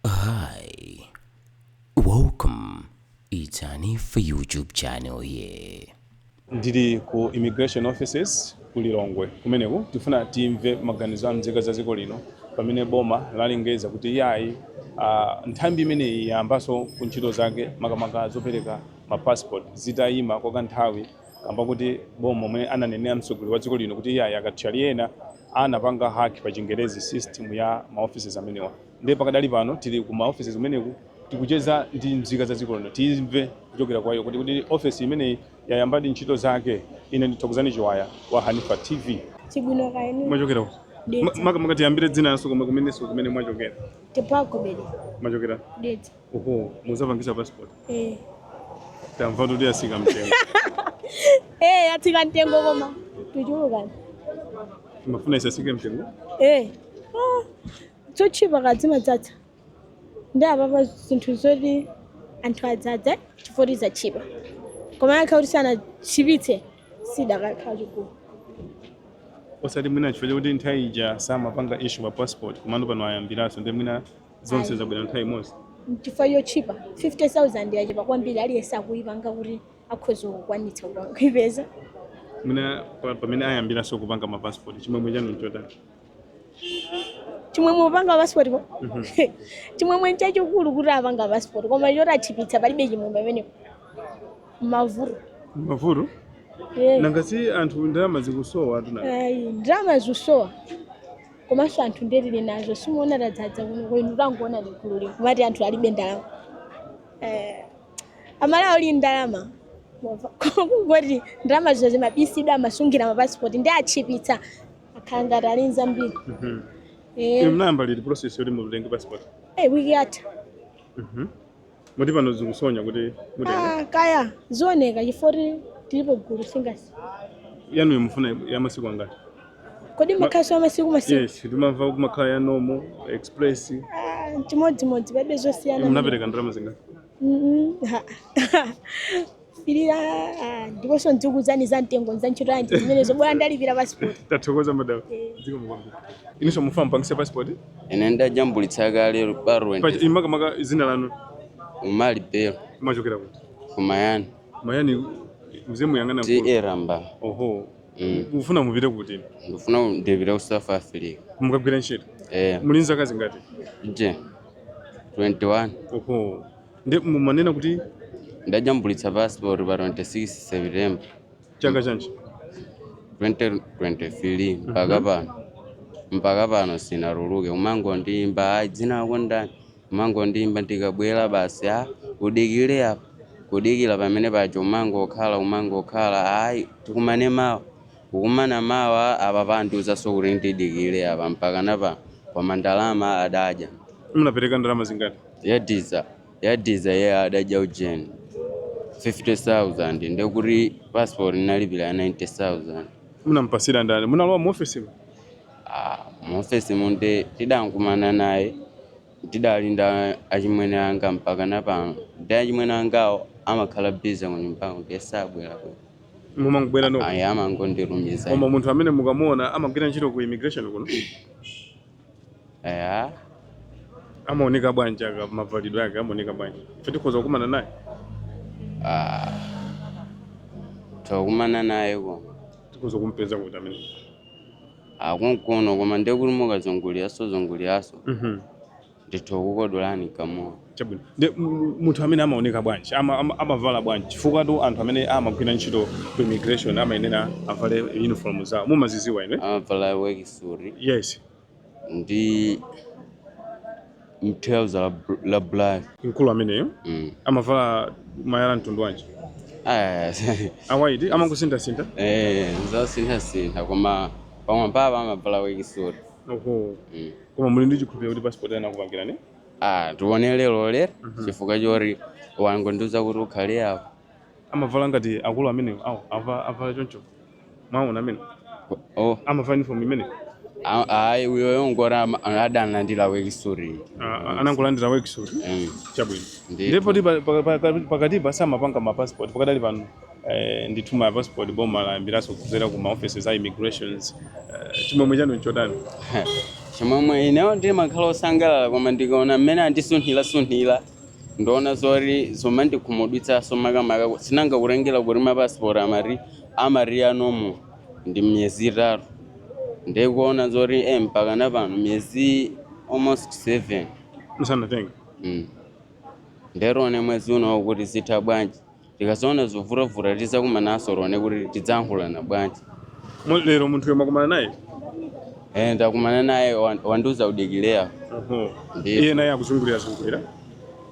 Hi, welcome. It's Hanifa YouTube channel here. ndili ku immigration offices ku lilongwe kumeneku tifuna timve maganizo a mzika za dziko lino pamene boma lalengeza kuti iyayi uh, nthambi imeneyi yayambanso ntchito zake makamaka zopereka ma passport zitayima kwa kanthawi kamba kuti boma momwe ananenera mtsogoleri wa dziko lino kuti iyayi akathyali ena anapanga hack pa chingerezi system ya ma offices amenewa ndiye pakadali pano tili ku ma offices kumeneku tikucheza ndi mzika za dziko lino timve kuchokera kwa iwo kuti kodi office imeneyi yayambadi ntchito zake ine ndi Thokozani Chiwaya wa hanifa tv Chibwino kaini mwachokera kuti Dedza. maka maka tiyambire dzina lanuso komanso kumene mwachokera Tipagobedi mwachokera Dedza. Oho, muzapangisa passport. Eh. Tamva kuti yatsika mtengo. Eh, yatsika mtengo koma. Tichulukani. Mumafuna isatsike mtengo. Eh. Ah. Zotchipa kumadzadza. Ndiye apapa zinthu zoti anthu adzadza chifukwa choti zatchipa. Komano kukhala kuti sanatchipitse sipakanakhala chigulu. Osati mwina chifukwa chakuti nthawi ija samapanga issue ma passport komano pano ayambiranso ndi mwina zonse zabwera nthawi imodzi chifukwa chotchipa 50000 yatchipa kwambiri aliyense akupanga kuti akhoza kukwanitsa kupa- kuipeza mwina pa- pamene ayambiranso kupanga mapasipoti chimwemwe chanu nchotani chimwemwe kupanga passport ko chimwemwe nchachikulu kuti apanga passport koma choti atchipitsa palibe chimwemwe pamenepo mavuto mavuto Eh. nanga si anthu ndalama zikusowa atuna Ayi, ndalama zikusowa komanso anthu ndiye tili nazo simuona tadzadza kuno inu tangoonani gulu lino kumati anthu alibe ndalama eh, amalawi ali ndi ndalama Mwamva? kungoti ndalama zake zimabisidwa amasungira mapasipoti ndiye atchipitsa akhala ngati ali nzambiri Mhm. Eh, Inu mnayamba liti process yoti mutenge passport? eh, wiki yatha Mhm. Moti pano zikusonya kuti mutenge Ah, kaya zioneka chifukwa kuti tilipo gulu nanga si yanuyo mufuna ya masiku angati? kodi amakhalaso amasiku masiku Yes, timamva kumakhala ya normal, express. Ah, chimodzimodzi palibe zosiyana Munapereka ndalama zingati? Mhm, ha. Pilira ah, ndiponso ndizikuuzani za mtengo za ntchito yanji zimenezo bora ndalipira passport. tathokoza madam zikomo kwambiri inuso mufuna mupangise passport ine ndajambulitsa kale Pachi- barwent inu makamaka dzina lanu umali belo mumachokera kuti kumayani mayani muzemuyang'ana ta ramba oho Mm. mufuna mupite kuti ndikufuna ndipite ku south africa mukagwire ntchito eh muli ndi zaka zingati nje 21 oho ndimanena kuti ndajambulitsa passport pa 26 septemba chaka chanji 2023 mpaka pano mpaka pano sinatuluke umangondiimba ayi dzina lako ndani umangondiimba ndikabwera basi a udikire apo kudikira pamene paja umangokhala umangokhala ayi tikumane mawa Kukumana mawa apapa andiuzaso kuti ndidikile apa mpakana pano koma ndalama adadya. Munapereka ndalama zingati? Yadiza yadiza iye adadya ujeni 50,000 ndekuti passport ndinalipira ya 90,000. Munampasira ndani? Munalowa mu ofesimu? Ah, mu ofesi mu nde tidankumana naye tidali nda achimwene anga mpakana pano ndi achimwene angawo amakhala busy kunyumbako ndiye sabwera. mumangobwera nokha ayi amangondilumiza koma munthu amene mukamuona amagwira ntchito ku immigration kuno eya amaoneka bwanji aka mavalidwe ake amaoneka bwanji ife tikhoza kukumana naye ah. tokumana naye koma tikhoza kumpeza kuti amene ali konkuno koma ndekuti mukazunguliraso zunguliraso Mhm. ndithu kukodolani kamowa Chabwino. Ndi mu- munthu amene amaoneka bwanji ama- ama- amavala bwanji chifukwatu anthu amene amagwira ntchito ku immigration amayenera avale uniform zawo mumaziziwa ine amavala worksuit yes ndi mthelza la, bl- la black mkulu ameneyo mm. amavala malaya mtundu wanji Aya, a white amangosinthasintha eh, zasinthasintha koma pamwambapa amavala worksuit oho mm. Koma muli ndi chikhulupiriro kuti passport yanu akupangirani? Ah, tione lero lero chifukwa choti wangondiuza kuti ukhale apo. Amavala ngati akulu amenewo awo avala avala choncho. Mwaona amene Oh, amavala uniform imene a- ayi uyoyo ngoti ama- adalandira worksuit. anangolandira worksuit Mm. chabwino. Ndiyo. Ndipo ndi pa- pa- pa- pakatipa samapanga ma passport pakadali pano. Eh, ndithu ma passport boma layambiranso kudzera ku ma offices a immigration eh, chimwemwe chanu nchotani chimwemwe inewo ndimakhala osangalala koma ndikaona mmene andisunthirasunthira ndiona zoti zomandikhumudwitsaso makamaka ku- sinanga kutengera kuti mapasipoti amati amati anomo ndi miyezi itatu ndikuona zoti e mpaka na pano miyezi almost seven musanatenga mm. nde tione mwezi unowo kuti zitha bwanji Tikazaona zovutavuta tizakumanaso tione kuti tidzayankhulana bwanji. Mo- Lero munthuyo mwakumana naye? Eh, ndakumana naye wan- wandiuza kudikira Oho. Ndiyo. Iye naye akuzungulira zungulira.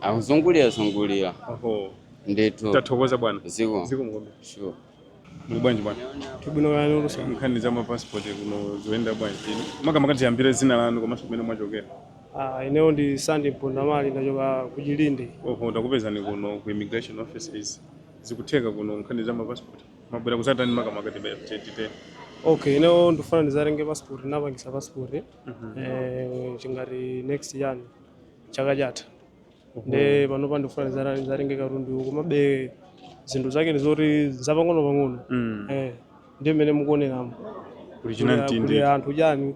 akuzungulira zungulira Oho. ndithu Tathokoza bwana. zikomo Zikomo kwambiri. sure Muli bwanji bwana? Tili bwino kaya lero sana. Nkhani za mapassport kuno zikuyenda bwanji? Makamaka tiyambire dzina lanu komanso kumene mwachokera. Ah, ineyo ndi Sandy Mpondamali ndachokera ku Chilinde. Oho, takupezani kuno ku immigration offices. Zikutheka kuno nkhani za mapassport. Mwabwera kudzatani makamaka tibe titite. Okay, ineyo ndifuna ndidzatenge passport, ndinapangitsa passport. Eh, ngati next year chaka chatha. nde panopa ndikufuna ndidza- dzatenge katundu komabe zinthu zake ndi zoti zapang'ono pang'ono Mm. eh, ndi mmene mukuoneramu kuli chinamtindi cha anthu chani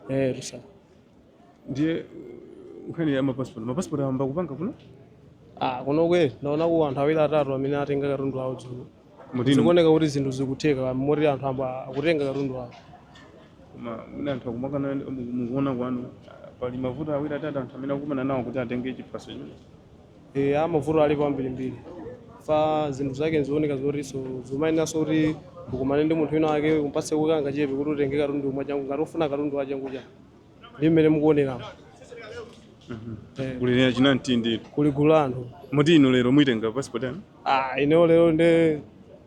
eh, tusa ndiye nkhani ya mapasipoti mapasipoti ayamba kupanga kuno Ah, kunoko ndaonako anthu awiri atatu amene atenga katundu awo dzulo Moti zikuoneka kuti zinthu zikutheka moti anthu ayamba kutenga katundu wawo ma- mwina anthu akumakana mu- mukuona kwanu ah, pali mavuto awiri atatu anthu amene akumana nawo kuti atenge chiphaso chino e, ah mavuto alipo ambirimbiri chifukwa zinthu zake zikuoneka zotinso zomayeneranso kuti ukumane ndi munthu wina wake umpatse kangachepe kuti utenge katundu mwachangu ngati ukufuna katundu wachangu cha ndi mmene mukuoneramu kuli chinamtindi kuli gulu la anthu moti inu lero muitenga passport yanu ah, ineyo lero ndi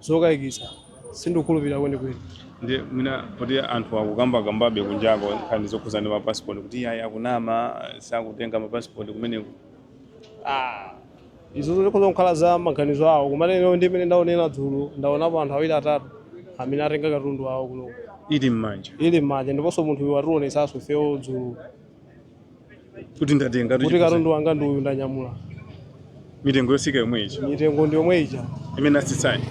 zokayikitsa sindikukhulupirira kwenikweni ndi mwina kuti anthu akukambakambabe kunjako nkhani zokhudzana ndi mapasipoti kuti ayi akunama sakutenga mapasipoti kumeneko ah, Izo zikhoza kukhala za maganizo awo, koma ineyo ndi mmene ndaonera dzulo, ndaonapo anthu awiri atatu amene atenga katundu wawo kuno ili m'manja ili m'manja, ndiponso munthu uyu wationetsanso ifeyo dzulo kuti ndatenga kuti katundu wanga ndi uyu ndanyamula. mitengo yotsika yomwe ija Mitengo ndi yomwe ija imene atsitsayi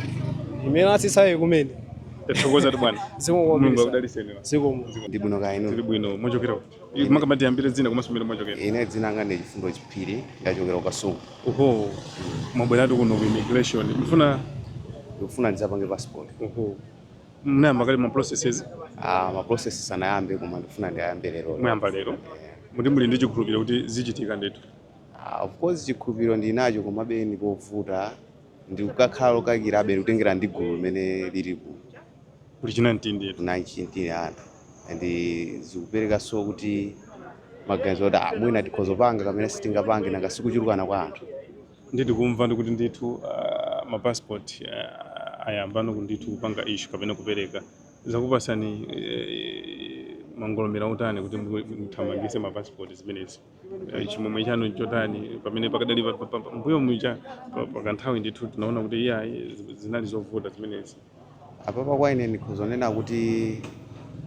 imene atsitsayi kumene tathokoza bwana mulungu zikomo akudalitseni zikomo ndi bwino kaya inu tili bwino muchokera ku- Makamaka tiyambire dzina komanso kumene mwachokera. Ine dzina langa ndi Chifundo Chiphiri, ndachokera ku Kasungu. Oho, mwabweratu kuno ku immigration. Mfuna Ndikufuna ndidzapange passport. oho. Munayamba kale ma processes Ah, ma process sindinayambe koma ndikufuna ndiyambe lero. mwayamba lero. Eh, Moti muli ndi chikhulupiriro kuti zichitika ndithu. ah, of course chikhulupiriro ndinacho komabe ndi povuta ndikukhala wokayikirabe kutengera ndi gulu limene lilipo. kuli chinamtindi chinamtindi cha anthu and zikuperekanso kuti maganizo kuti ah, mwina tikhoza kupanga kapena sitingapange nanga si kuchulukana kwa anthu ndiye tikumva ndikuti ndithu uh, mapassport uh, ayambano ndithu kupanga issue kapena kupereka zakupatsani eh, mangolomera otani kuti muthamangise mapassport zimenezi Eh, chimwemwe chanu nchotani pamene pakadali pa- pa- pa- mbuyo muja pa- pakanthawi ndithu tinaona kuti iya zinali zovuta zimenezi apapa kwa ine ndikhozonena kuti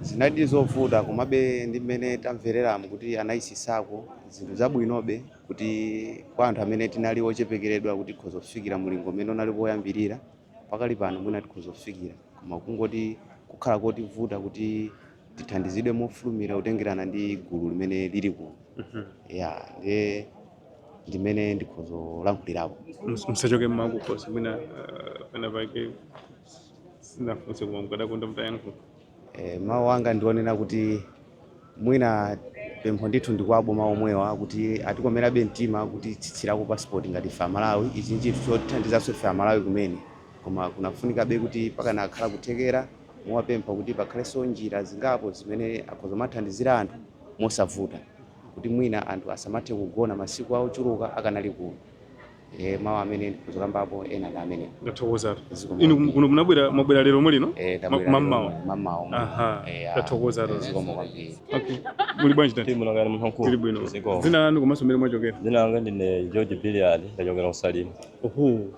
zinali zovuta komabe ndi mmene tamvereramo kuti anayitsitsako zinthu zabwinobe kuti kwa anthu amene tinali ochepekeredwa kuti tikhoza kufikira mulingo umene unali poyambirira pakali pano mwina tikhoza kufikira koma kungoti kukhala kotivuta kuti tithandizidwe mofulumira kutengerana ndi gulu limene lili kuno ya ndiye ndimene ndikhoza kulankhulirapo Mus- musachoke mmakukhosi mwina uh, pena pake sinafunse koma mukadakonda mutayankhula Eh, mawu anga ndionena kuti mwina pempho ndithu ndi kwa aboma omwewa kuti atikomerabe mtima kuti atsitsirako pasipoti ngati ife amalawi ichi ndi chinthu chotithandizanso ife amalawi kumene koma kunafunikabe kuti pakanakhala kuthekera kuwapempha kuti pakhalenso njira zingapo zimene akhoza kumathandizira anthu mosavuta kuti mwina anthu asamathe kugona masiku ochuluka akanali kuno e, mawu amene ndikuzokambapo ena ndi amene ndathokoza Zikomo. inu kuno munabwera mwabwera lero omwe lino Eh, Ma- tabwera mammawa lero, mammawa omwe. Aha, Eh, ya. ndathokoza Eh, lero. zikomo kwambiri okay muli bwanji tati Dzina langa ni Mhanku. tili bwino Ziko. dzina lanu komanso komwe mwachokera Dzina langa ndine George Biliard, ndachokera ku Salima. oho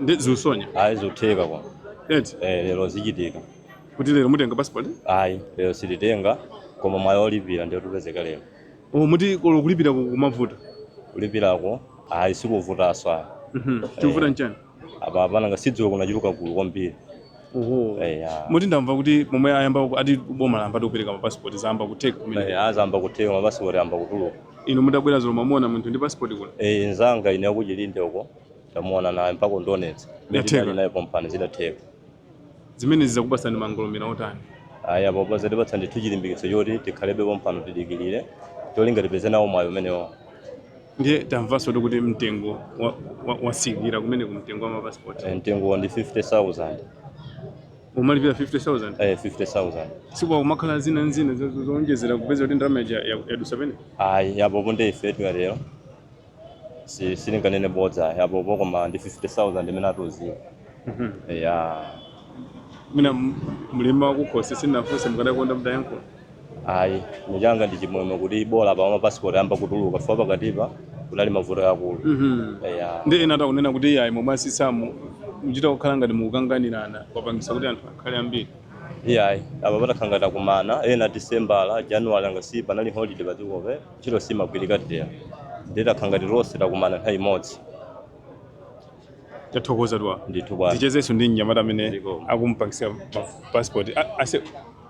ndi zikusonyeza ayi zitheka kwa eti eh, lero zichitika kuti lero mutenga passport ayi lero sititenga koma mwayi olipira nde utipezeka lero oh muti kolo kulipira ku- kumavuta kulipirako ayi sikuvutanso ayi Mhm. chikuvuta nchani apa panangokhala sindidziwa kunachuluka gulu kwambiri oho Eh, ya. muti ndamva kuti pomwe ayamba ku- ati boma lamba kupereka ma passport zayamba kutheka kumene Eh, zayamba kutheka mapasipoti ayamba kutuluka inu mutabwera dzulo mwamuona munthu ndi passport kuno Eh, nzanga ine wa ku Chilinde uko tamuona naye mpaka undionetse Yatheka. beti naye pompano zidatheka zimenezi zakupatsani mangolomera otani ayi apapa zatipatsa ndithu chilimbikitso choti tikhalebe pompano tidikirire cholinga tipeze nawo mwayi umenewo ndiye tamvanso kuti kuti mtengo wa- wa- watsika kumene ku mtengo wa mapasipoti Eh, mtengo ndi 50000 umalipira 50000 eh 50000 si kumakhala zina ndi zina zo- zo- zoonjezera kupeza kuti ndalama ija ya- yadutsa penapake ayi apopo ndi ife tikatero si sindinganene bodza apopo koma ndi 50000 imene atiuzira ya mwina mlimo wakukhosi sinafunse mukadakonda mutayankhula ayi ine changa ndi chimwemwe kuti bola pa mapasipoti ayamba kutuluka chifukwa pakatipa kunali mavuto akulu ya ndi ena akunena kuti iyayi momwe asisamo muchita kukhala ngati mukukanganirana kwapangisa kuti anthu akhale ambiri iyayi apa patakhala ngati takumana a disembala januwali angati panali holiday padziko ntchito simagwirika tero ndiye takhala ngati lonse takumana nthawi imodzi tathokoza zedi ndithu bwana tichezenso ndi mnyamata amene Zikomo. akumpangisa passport A- aise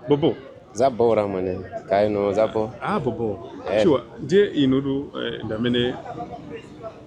bobo zabora mwene kaya inu zanu ah bobo Eh. sure ndiye inutu eh, ndi amene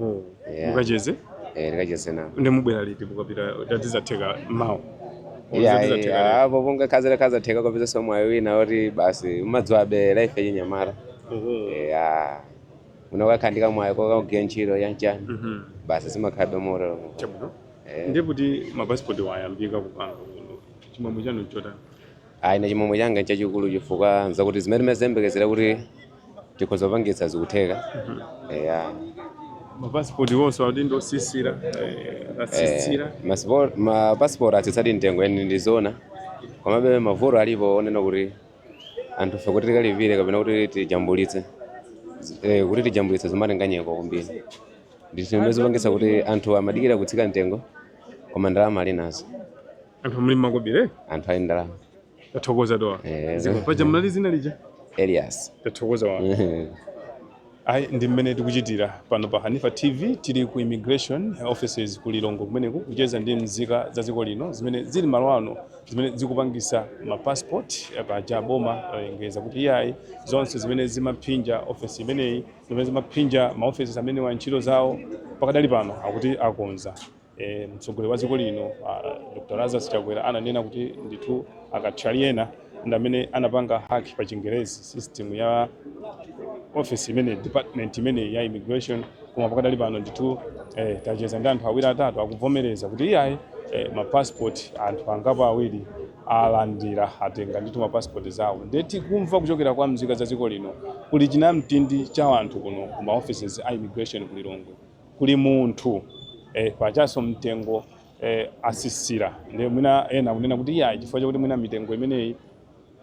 Oho. Yeah. Mukacheze Eh, ndikacheze nawo ndi mubwera liti mukapita tatizatheka mawa. Tatizatheka apo pongokhazira kazatheka kupezanso mwayi wina woti basi umadziwabe life yachinyamata lero. Oho. ya unakakhala ndi kamwayi kokagwira ntchito ya chani Mhm. basi sumakhalabe motero Chabwino. Eh. Ndiye kuti mapasipoti wayambika kupanga kuno. Chimwemwe chanu chotani. Ayi, ine chimwemwe changa nchachikulu chifukwa nchakuti zimene timaziyembekezera kuti tikhoza kupangitsa zikutheka eya mapasipoti onse akuti ndi otsitsira atsitsira mapasipoti atsitsadi mtengo eh ndi zoona komabe mavuto alipo onena kuti anthu ife kuti tikalipire kapena kuti tijambulitse zi- eh, kuti tijambulitse zimatenga nyengo kwambiri ndithu zimene zapangitsa kuti anthu amadikira kutsika mtengo koma ndalama ali nazo anthu ali makobiri anthu ali ndi ndalama tathokoza Eh. zikomo paja munati dzina lija elias tathokoza ayi ndi mmene tikuchitira pano pa hanifa tv tili ku immigration offices ku lilongwe kumeneku kucheza ndi mzika za dziko lino zimene zili malo ano zimene zikupangitsa ma passport eh, paja boma lalengeza kuti iyayi zonse zimene zimaphinja ofesi imeneyi zimene zimaphinja ma offices amenewa ntchito zawo pakadali pano akuti akonza e, mtsogoleri wa dziko lino uh, Dr. Lazarus Chakwera ananena kuti ndithu akathyali ena ndi amene anapanga hack pa chingerezi system ya office imeneyi department imeneyi ya immigration koma pakadali pano ndithu eh, tacheza ndi anthu awiri atatu akuvomereza kuti iyayi eh, mapassport anthu angapo awiri alandira atenga ndithu mapasipoti awo ndiye tikumva kuchokera kwa mzika za dziko lino kuli chinamtindi cha anthu kuno ku maoffices a immigration ku Lilongwe kuli munthu eh, pajanso mtengo eh, atsitsira nde mwina ena kunena kuti iya chifukwa chakuti mwina mitengo imeneyi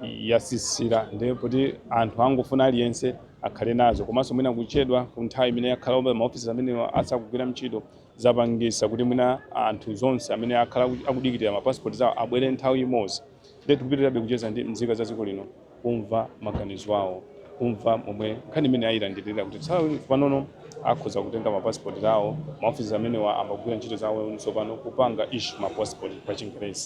yatsitsira nde kuti anthu akungofuna aliyense akhale nazo komanso mwina kuchedwa ku nthawi imene yakhala pomwe maofisi amenewa asakugwira ntchito zapangitsa kuti mwina anthu onse amene akhala akudikirira mapasipoti awo abwere nthawi imodzi ndiye tikupitirizabe kucheza ndi mzika za dziko lino kumva maganizo awo kumva momwe nkhani imeneyi ayilandirira kuti tsopanono akhoza kutenga mapasipoti awo maofisi amenewa ayamba kugwira ntchito zawo tsopano kupanga issue mapasipoti pa chingerezi